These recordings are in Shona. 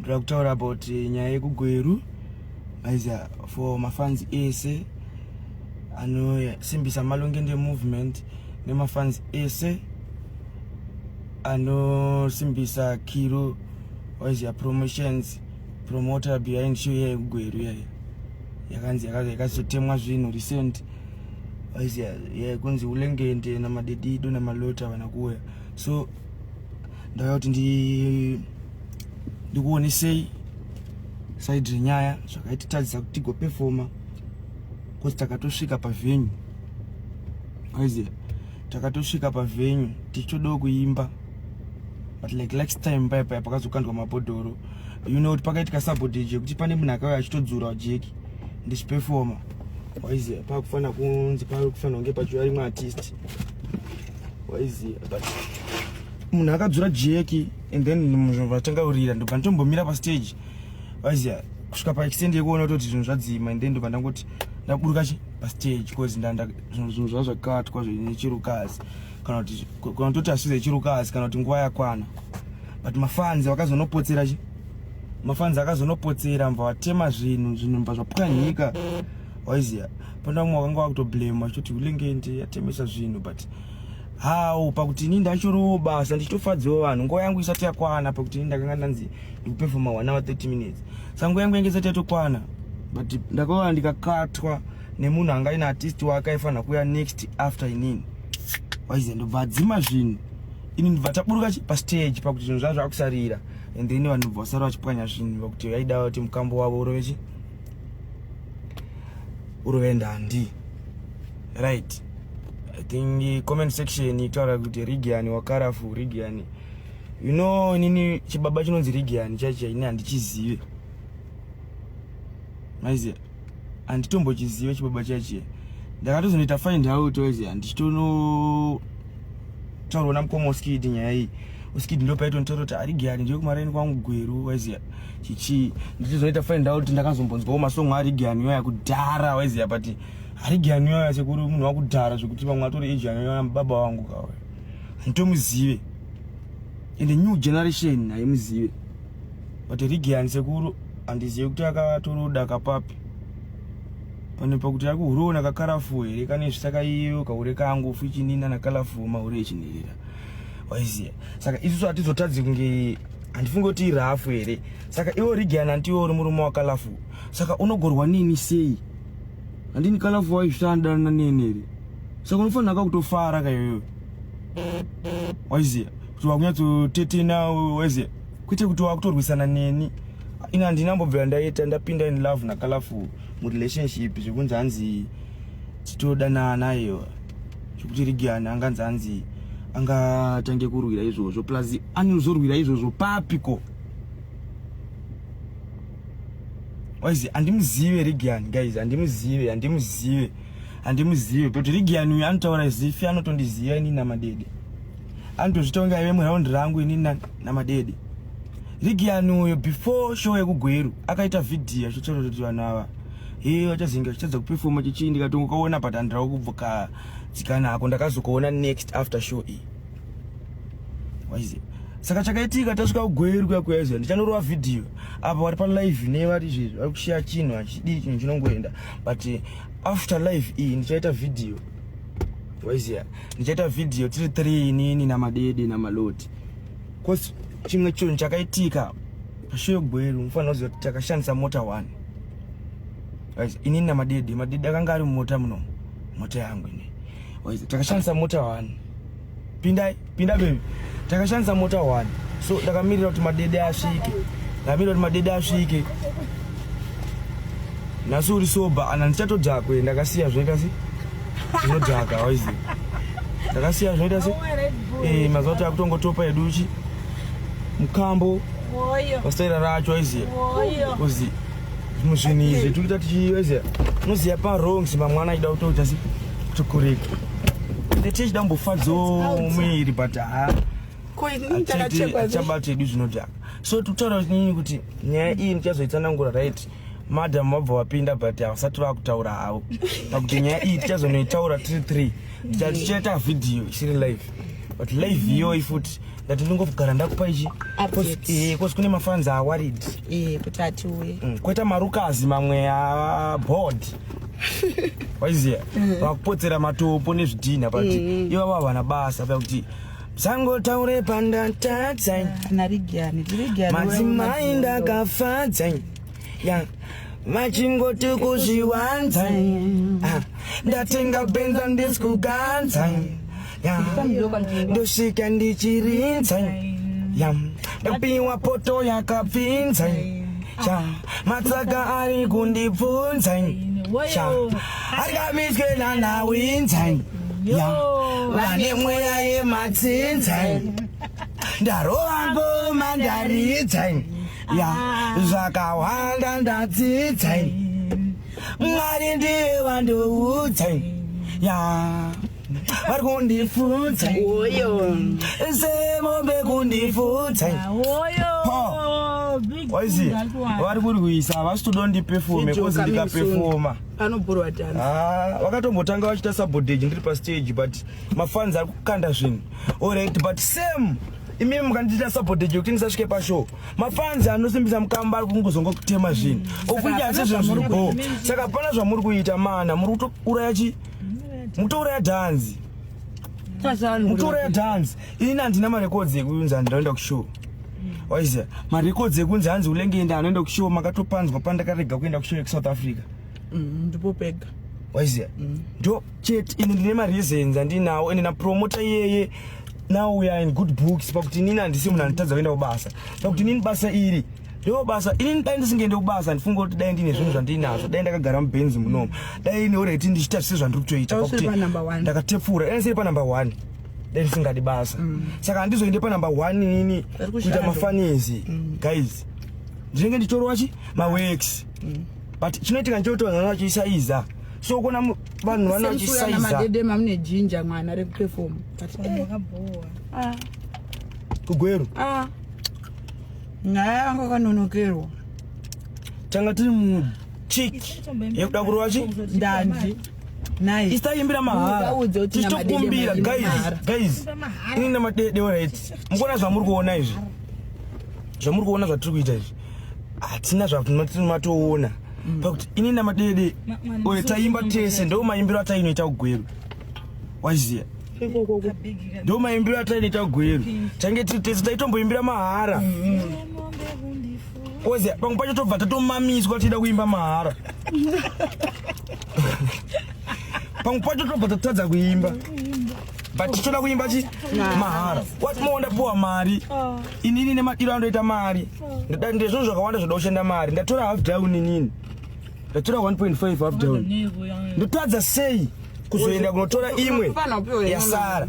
ndoda kutaura about eh, nyaya yekugweru aiza for mafans ese anosimbisa malongende movement nemafans ese anosimbisa kiro waiziva promotions promoter behind show iya yekugweru yaiya yakanzi yakaza yakazotemwa zvinhu recent waiziva yaikunzi ulengende namadedido namalota vana kuuya so ndauya kuti ndikuonesei side renyaya zvakaititadzisa kuti tigopefoma bcause takatosvika pavenue aiziva takatosvika pavenue tichitodawo kuimba but like last time paya paya pakazokandwa mabhodhoro you know kuti pakaitika sabotage yekuti pane munhu akauya achitodzura jeki ndichipefoma waiziva pakufanira kunzi pari kufanira kunge pachiuya rimwe artist waiziva but munhu akadzura jeki and then munhu vatanga kurira ndobva nditombomira pastage vaiziva kusvika paextend yekuona kutoti zvinhu zvadzima and then ndobva ndangoti ndaburuka chi pastage bcause ndanda zvinhu zvaa zvakatwa zvechirukazi kana kuti kana kutoti asize yechirukazi kana kuti nguva yakwana but mafans vakazonopotsera chi mafans akazonopotsera mva vatema zvinhu zvinhu mva zvapwanyika waiziya pana vamwe vakanga vakutoblema vachitoti ulenge ndi yatemesa zvinhu but how pakuti ini ndachorowo basa ndichitofadzawo vanhu nguva yangu isati yakwana pakuti ini ndakanga ndanzi ndikupefoma one hour 30 minutes sa nguva yangu yange isati yatokwana but ndakaona ndikakatwa nemunhu anga ine artist wake aifanira kuuya next after inini waiziya ndobva adzima zvinhu ini ndibva taburuka pastage pakuti zvinhu zvazvo akusarira and then vanhu bva vasara vachipwanya zvinhu vakuti vaida kuti mukambo wavo urovechi uruvendandi right i think comment section itaura kuti rigiani wakarafu rigiani you know inini chibaba chinonzi rigiani chaicho ini handichizive maiziva handitombochizive chibaba chaichiye ndakatozonoita find out oziva ndichitono taurona mukoma uskidi nyaya iyi uskidi ndopaitonotaura kuti ari gari ndiyo kumaraini kwangu gweru waiziya chichii ndichizoita find out ndakazombonzwawo masongo ari gani yoya kudhara waiziya but ari gani yoya sekuri munhu wakudhara zvekuti vamwe atori egani yoya mubaba wangu kawe handitomuzive and new generation haimuzive but rigani sekuru handizive kuti akatoroda kapapi pane pakuti yako hure ona kakarafu here kane zvisaka iyo kahure kangu fuchinina nakalafu mahure echinherera waiziya saka isusu hatizotadzi kunge handifunge kuti irafu here saka iwo rigiana ndiwo uri murume wakalafu saka unogorwa nini sei handini kalafu waizvitandanana neni here saka unofanira ka kutofara kayoyo waiziya kuti wakunyatsotetena waiziya kwete kuti wakutorwisana neni ini handinambobvira ndaita ndapinda in love nakalafu murelationship zvekunzi hanzi titodanana iyo zvekuti rigian anganzi hanzi angatange kurwira izvozvo plus anozorwira izvozvo papiko waizi handimuzive rigian guys handimuzive handimuzive handimuzive but rigian uyu anotaura zifi anotondiziva ini namadede anotozvitonga ive muround rangu ini namadede rigian uyo before show yekugweru akaita vhidhiyo achichora kuti vanhu ava he vachazinga chichadza kupefoma chichii ndikatongokaona but andirawo kubvoka tsikana hako ndakazokuona next after show iyi waize saka chakaitika tasvika kugweru kuya kuyaizwa ndichanorova vhidhiyo apa vari palive ne vari izvezvi vari kushiya chinhu hachidii chinhu chinongoenda but after live iyi ndichaita vhidhiyo waiziya ndichaita vhidhiyo tiri three inini namadede namaloti bcause chimwe chinhu chakaitika pashoyo gweru mufanira kuziva kuti takashandisa mota one waizi inini namadede madede akanga ari mumota muno mota yangu ini waizi takashandisa mota one pindai pinda bebi takashandisa mota one so ndakamirira kuti madede asvike ndamirira kuti madede asvike nhasi uri soba ana ndichatodhakwe ndakasiya zvinoita se zvinodhaka waizi ndakasiya zvinoita se eh, mazuva kuti akutongotopa educhi mukambo pastaira racho waiziya ozi zvimwe zvinhu izvi tikuita tichiweze unoziva parong simba mwana achida kutoita si tokoreka tete chida mbofadzawo muiri but ha chabata hedu zvinodhaka so tikutaura kuti nini kuti nyaya iyi ndichazoitsanangura right madam vabva vapinda but havasati vakutaura havo pakuti nyaya iyi tichazonoitaura tiri three tichatichaita vhidhiyo isiri live but live iyoyi futi ndati ndingogara ndakupa ichi eh, kosi kune mafanzi awarid eh, kuti atiuye mm, kweta marukazi mamwe aboard waiziva mm. vakupotsera matopo nezvidhinha pakuti mm. ivavo havana basa pakuti sangotaure pandatadza ah, madzimai ndakafadza ya vachingoti kuzviwanza Ah, ndatenga benza ndisikuganza ya ndosvika ndichirinza ya ndapiwa poto yakapfinza ya matsaka ari kundibvunza ya akamiswe nanawinza ya vane mweya yematsinza ndarova ngoma ndaridza ya zvakawanda ndadzidza mwari ndiye vandoudza ya vari kundifunza oyo semombe kundifunza waisi vari kurwisa havasi toda ndipefome kozi ndikapefoma anoburwa tani ah, vakatombotanga vachiita sabodage ndiri pastage but mafanzi ari kukanda zvinhu orit but same imimi mukandiita support ejo kuti ndisasvike pashow mafans anosimbisa mukamba ari kungozonga kutema zvinhu okuita asi zvinhu zviri bho saka hapana zvamuri kuita mana muri kutouraya chi mutouraya dhanzi mutouraya dhanzi ini handina marekodzi ekuunza hanzi ndaenda kushow waiziva marekodzi ekunzi hanzi ulenge enda anoenda kushow makatopanzwa pandakarega kuenda kushow yekusouth africa mm, ndipo mm, pega waiziva mm. ndo chete ini ndine mareasons andinawo ende napromota iyeye now we are in good books pakuti inini handisi munhu anotadza kuenda kubasa pakuti inini basa iri ndo basa inini dai ndisingaende kubasa handifunga kuti dai ndine zvinhu zvandiinazvo dai ndakagara mubenzi munomu dai ine oreti ndichiita zvise zvandiri kutoita pakuti ndakatepfura dai ndisiri panumber one dai ndisingadi basa mm. saka handizoende panumber one inini kuita mafanezi mm. guys ndinenge ndichitorowa chi maworks mm. but chinoitika nchoto vanhu vachisaiza so kuona vanhu vana vachisaiza madede mamune jinja mwana re perform vakabhowa ah kugweru ah nyaya yangu kanonokerwa tanga tiri mu chick yekuda kurova chi ndanji Nice. Isaimbira mahara. Tichitokumbira guys, guys. Ini nemadede alright. Mukona zvamuri kuona izvi. Zvamuri kuona zvatiri kuita izvi. hatina zvatinatoona mm. pakuti ini namadede oyo taimba tese ndo maimbiro atainoita kugweru waziya ndo maimbiro atainoita kugweru tange tiri tese taitomboimbira mahara mm. waziya pamwe pacho tobva tatomamiswa tichida kuimba mahara pamwe pacho tobva tatadza kuimba but tichitoda kuimba chi mahara what more ndapuwa mari inini nemadiro andoita mari Ndada- ndezvinhu zvakawanda zvoda kushanda mari ndatora half down inini ndatora 1.5 half down ndotadza sei kuzoenda kunotora imwe Hapana, upiwe imwe yasara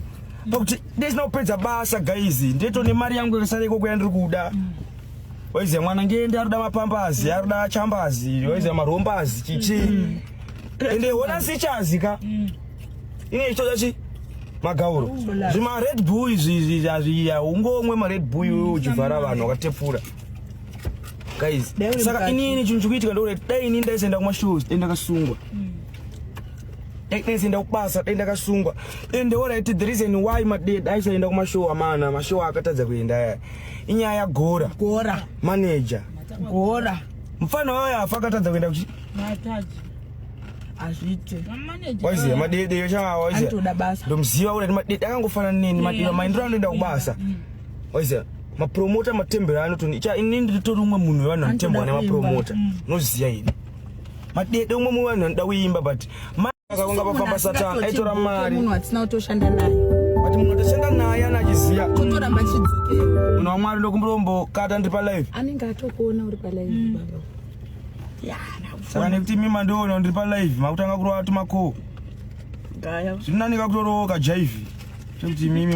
pakuti ndisina kupedza basa guys ndito nemari yangu yakasara ikoko yandiri kuda waiziva mwana ngende aruda mapambazi aruda chambazi waiziva marombazi chichi ende hona sichazi ka inoitwa chi magauro zvima red bull izvi hazviya ungomwe mared bull iwe uchivhara vanhu wakatepfura guys saka inini chinhu chikuitika ndokuti dai inini ndaisaenda kumashows dai ndakasungwa mm. dai ndaisaenda kubasa dai ndakasungwa and the right the reason why maded aisaenda kumashow amana mashow akatadza kuenda aya inyaya yagora gora manager gora mfana wayo afa akatadza kuenda kuchi hazviite waiziva madedeyo chaawaizitoda basa ndomuziva kuti madede akangofanana neni madede maendero anoenda kubasa mm. waiziva mapromota matembero anotoni cha ini nditori umwe munhu wevanhu vanotembwa nemapromota mm. unoziva ini madede umwe munhu wevanhu vanoda kuimba but akakunga pafamba satani aitora mari munhu atisina kutoshanda naye but munhu atashanda naye ana achiziva kutoramba chidzikira munhu wamwari ndokumbirombo kata ndiri palive anenge atokuona uri palive mm. baba saka nekuti imi mandiona ndiri palive makutanga kurova tumakoo zvinonani kakutorowoka jaivi chekuti imimi